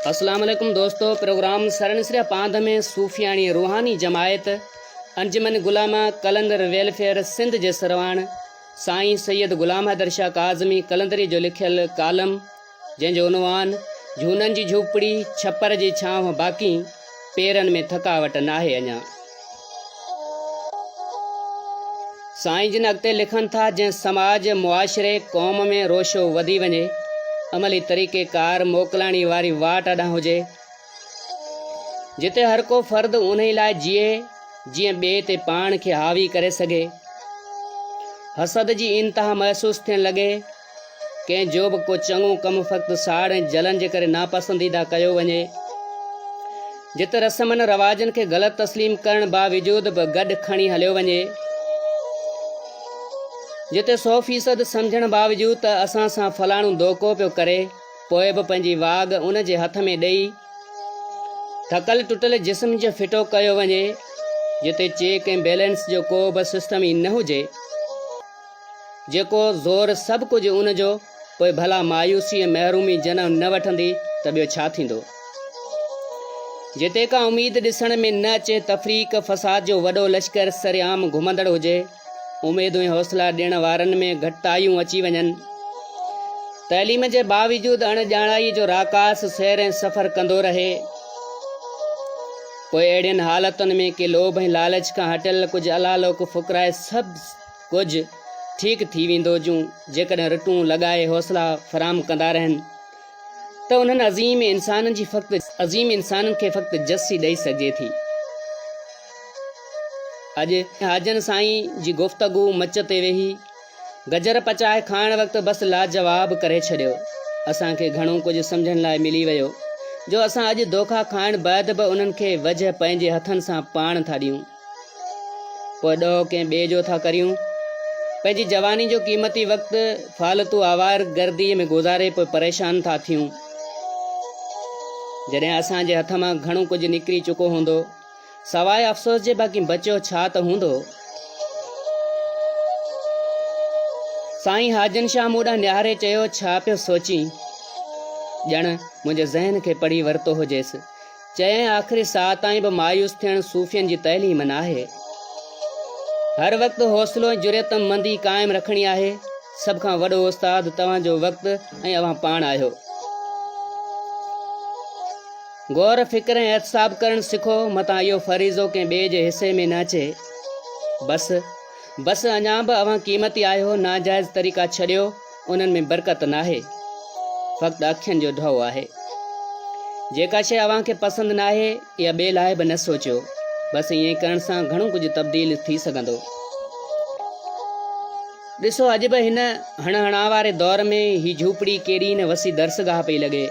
السلام عليڪم دوستو پروگرام سرنسريا پانڌ ۾ صوفياڻي روحاني جماعت انجمن غلامه قلندر ويلفيئر سنڌ جي سرواڻ سائين سيد غلام حيدر شاهه ڪاظمي قلندري جو لکيل ڪالم جنهن جو عنوان جھونن جي جھوپڙي ڇپر جي ڇانو باقي پيرن ۾ ٿڪاوٽ ناهي اڃا. سائين جن اڳتي لکن ٿا جنهن سماج، معاشري، قوم ۾ روشو وڌي وڃي، عملي طريقي ڪار موڪلاڻي واري واٽ اڏان هجي، جتي هر ڪو فرد انهي لاء جيئي جيئن ٻئي تي پاڻ کي حاوي ڪري سگهي. حسد جي انتها محسوس ٿيڻ لڳي. ڪنهن جو به ڪو چڱو ڪم فقط ساڙ ۽ جلن جي ڪري ناپسنديده ڪيو وڃي. جت رسمن رواجن کي غلط تسليم ڪرڻ باوجود به گڏ کڻي هليو وڃي. جتي سو فيصد سمجهڻ باوجود ته اسان سان فلاڻو دوکو پيو ڪري پوء به پنهنجي واڳ ان جي هٿ ۾ ڏئي ٿڪل ٽٽل جسم جو ڦٽو ڪيو وڃي. جتي چيڪ ۽ بيلنس جو ڪو به سسٽم ئي نه هجي. جيڪو زور سڀ ڪجهه ان جو، پوء ڀلا مايوسي ۽ محرومي جنم نه وٺندي ته ٻيو ڇا ٿيندو؟ جتي ڪا اميد ڏسڻ ۾ نه اچي، تفريق فساد جو وڏو لشڪر سرعام گهمندڙ هجي، اميدون ۽ حوصلا ڏيڻ وارن ۾ گهٽتايون اچي وڃن، تعليم جي باوجود اڻ ڄاڻائي جو راڪاس سير ۽ سفر ڪندو رهي، پوء اهڙين حالتن ۾ ڪي لوڀ ۽ لالچ کان هٽيل ڪجهه الالوڪ فقراء سڀ ڪجهه ٺيڪ ٿي ويندو جون جيڪڏهن رٽون لڳائي حوصلا فراهم ڪندا رهن ته انهن عظيم انسانن جي فقط عظيم انسانن کي فقط جسي ڏئي سگهجي ٿي اڄ حاجن سائين جي گفتگو مچ تي ويهي گجر پچائي کائڻ وقت بس لاجواب ڪري ڇڏيو اسان کي گهڻو ڪجهه سمجهڻ لاء ملي ويو جو اسان اڄ دوکا کائڻ بعد به انهن کي وجهه پنهنجي هٿن سان پاڻ ٿا ڏيون پوء ڏوهه ڪنهن ٻئي جو ٿا ڪريون. پنهنجي جواني جو قيمتي وقت فالتو آوار گرديء ۾ گذاري پوء پريشان ٿا ٿيون. جڏهن اسان جي هٿ مان گهڻو ڪجهه نڪري چڪو هوندو، سواء افسوس جي باقي بچيو ڇا ته هوندو؟ سائين حاجن شاهه مون ڏانهن نهاري چيو، ڇا پيو سوچين؟ ڄڻ منهنجي ذهن کي پڙهي ورتو هجيس. چيائين آخري ساهه تائين به مايوس ٿيڻ صوفين جي تعليم ناهي هر وقت حوصلو ۽ جريت مندي قائم رکڻي آهي سڀ کان وڏو استاد توهان جو وقت ۽ اوهان پاڻ آهيو غور فڪر ۽ احتساب ڪرڻ سکو متان اهو فريضو ڪنهن ٻئي جي حصي ۾ نه اچي بس بس اڃا به اوهان قيمتي آهيو ناجائز طريقا ڇڏيو انهن ۾ برڪت ناهي، فقط اکين جو ڍؤ آهي. جيڪا شيء اوهان کي پسند ناهي يا ٻئي لاء به نه سوچيو، بس ائين ڪرڻ سان گهڻو ڪجهه تبديل ٿي سگهندو. ڏسو اڄ به هن هڻ هڻا واري دور ۾ هي جهوپڙي ڪيڏي نه وسي درسگاهه پئي لڳي.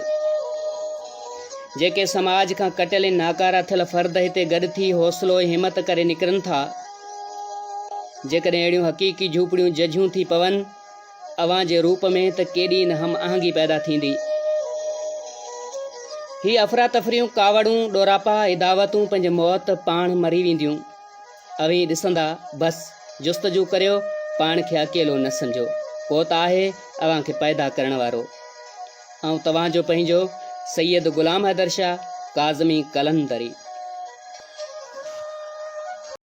جيڪي سماج کان ڪٽيل ۽ ناڪارا ٿيل فرد هتي گڏ ٿي حوصلو ۽ همت ڪري نڪرن ٿا. جيڪڏهن اهڙيون حقيقي جهوپڙيون ججهيون ٿي پون، اوهان جي روپ ۾ ته ڪيڏي نه هم آهنگي پيدا ٿيندي. هي افراتفريون، ڪاوڙون، ڏوراپا، اداوتون پنهنجي موت پاڻ مري وينديون. اوهين ڏسندا، بس، جستجو ڪريو، پاڻ کي اڪيلو نه سمجهو. ڪو ته آهي اوهان کي پيدا ڪرڻ وارو. آئون توهان جو پنهنجو سيد غلام حيدر شاهه ڪاظمي قلندري.